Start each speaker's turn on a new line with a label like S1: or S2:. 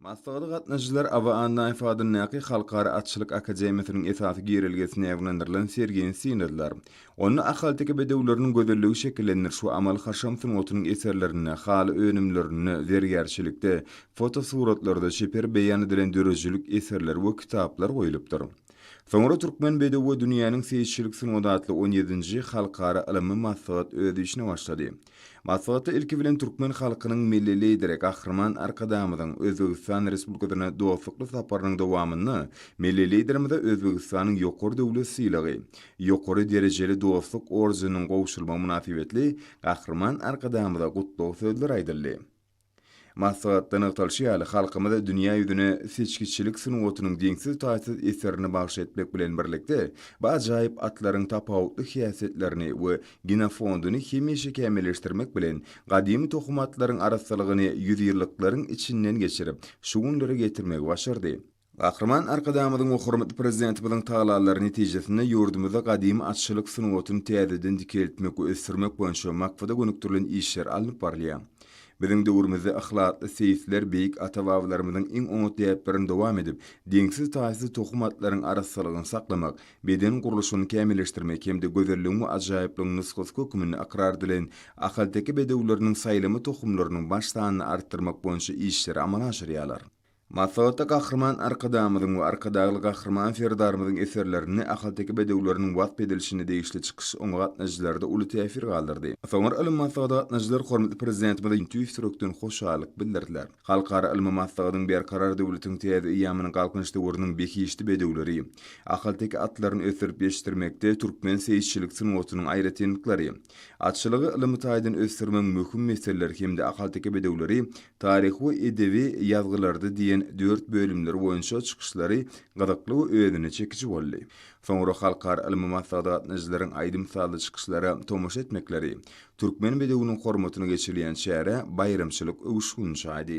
S1: Maslahata gatnaşyjylar Aba Annaýew adyndaky Halkara atçylyk akademiýasynyň esasy girelgesine ýaňlandyrylan sergini synladylar. Onda ahalteke bedewleriniň gözelligi şekillendiriş we amaly-haşam sungatynyň eserlerinde, haly önümlerinde, zergärçilikde, fotosuratlarda çeper beýan edilen döredijilik eserleri we kitaplar goýlupdyr. Soňra Türkmen bedew we dünýäniň seýisçilik sungaty atly on ýedinji Halkara ylmy maslahat öz işine başlady. Maslahatda ilki bilen türkmen halkynyň Milli Lideri Gahryman Arkadagymyzyň Özbegistan Respublikasyna dostlukly saparynyň dowamynda Milli Liderimize Özbegistanyň Ýokary döwlet sylagy, Ýokary derejeli dostluk ordeniniň gowşurylmagy mynasybetli Gahryman Arkadagymyza gutlag sözleri aýdyldy. Maslahatda nygtalyşy ýaly, halkymyz dünýä ýüzüne seçgiçilik sungatynyň deňsiz-taýsyz eserini bagş etmek bilen birlikde, bu ajaýyp atlaryň tapawutly häsiýetlerini we genofonduny hemişe kämilleşdirmek bilen, gadymy tohum atlaryň arassalygyny ýüzýyllyklaryň içinden geçirip, şu günlere getirmegi başardy. Gahryman Arkadagymyzyň we hormatly Prezidentimiziň tagallalary netijesinde ýurdumyzda gadymy atçylyk sungatyny täzeden dikeltmek we ösdürmek boýunça maksada gönükdirilen işler alnyp barylýar. Biziň döwrümizde yhlasly seýisler beýik ata-babalarymyzyň iň oňat däplerini dowam edip, deňsiz-taýsyz tohum atlaryň arassalygyny saklamak, beden gurluşyny kämilleşdirmek hem-de gözelligiň we ajaýyplygyň nusgasy hökmünde ykrar edilen ahalteke bedewleriniň saýlama tohumlarynyň baş sanyny artdyrmak boýunça işleri amala aşyrýarlar. Maslahatda Gahryman Arkadagymyzyň we Arkadagly Gahryman Serdarymyzyň eserlerinde ahalteke bedewleriniň wasp edilişine degişli çykyş oňa gatnaşyjylarda uly täsir galdyrdy. Soňra ylmy maslahata gatnaşyjylar hormatly Prezidentimize tüýs ýürekden hoşallyk bildirdiler. Halkara ylmy maslahatyň Berkarar döwletiň täze eýýamynyň Galkynyş döwrüniň behişdi bedewleri, ahalteke atlaryny ösdürip ýetişdirmekde türkmen seýisçilik sungatynyň aýratynlyklary, atçylygy ylmy taýdan ösdürmegiň möhüm meseleleri hem-de ahalteke bedewleri Taryhy we edebi ýazgylarda diýen dört bölümleri boýunça çykyşlary gyzykly we özüne çekiji boldy. Soňra halkara ylmy maslahata gatnaýjylaryň aýdym-sazly çykyşlara tomaşa etmekleri, Türkmen bedewiniň hormatyna geçirilýän çärä baýramçylyk öwüşgini çaýdy.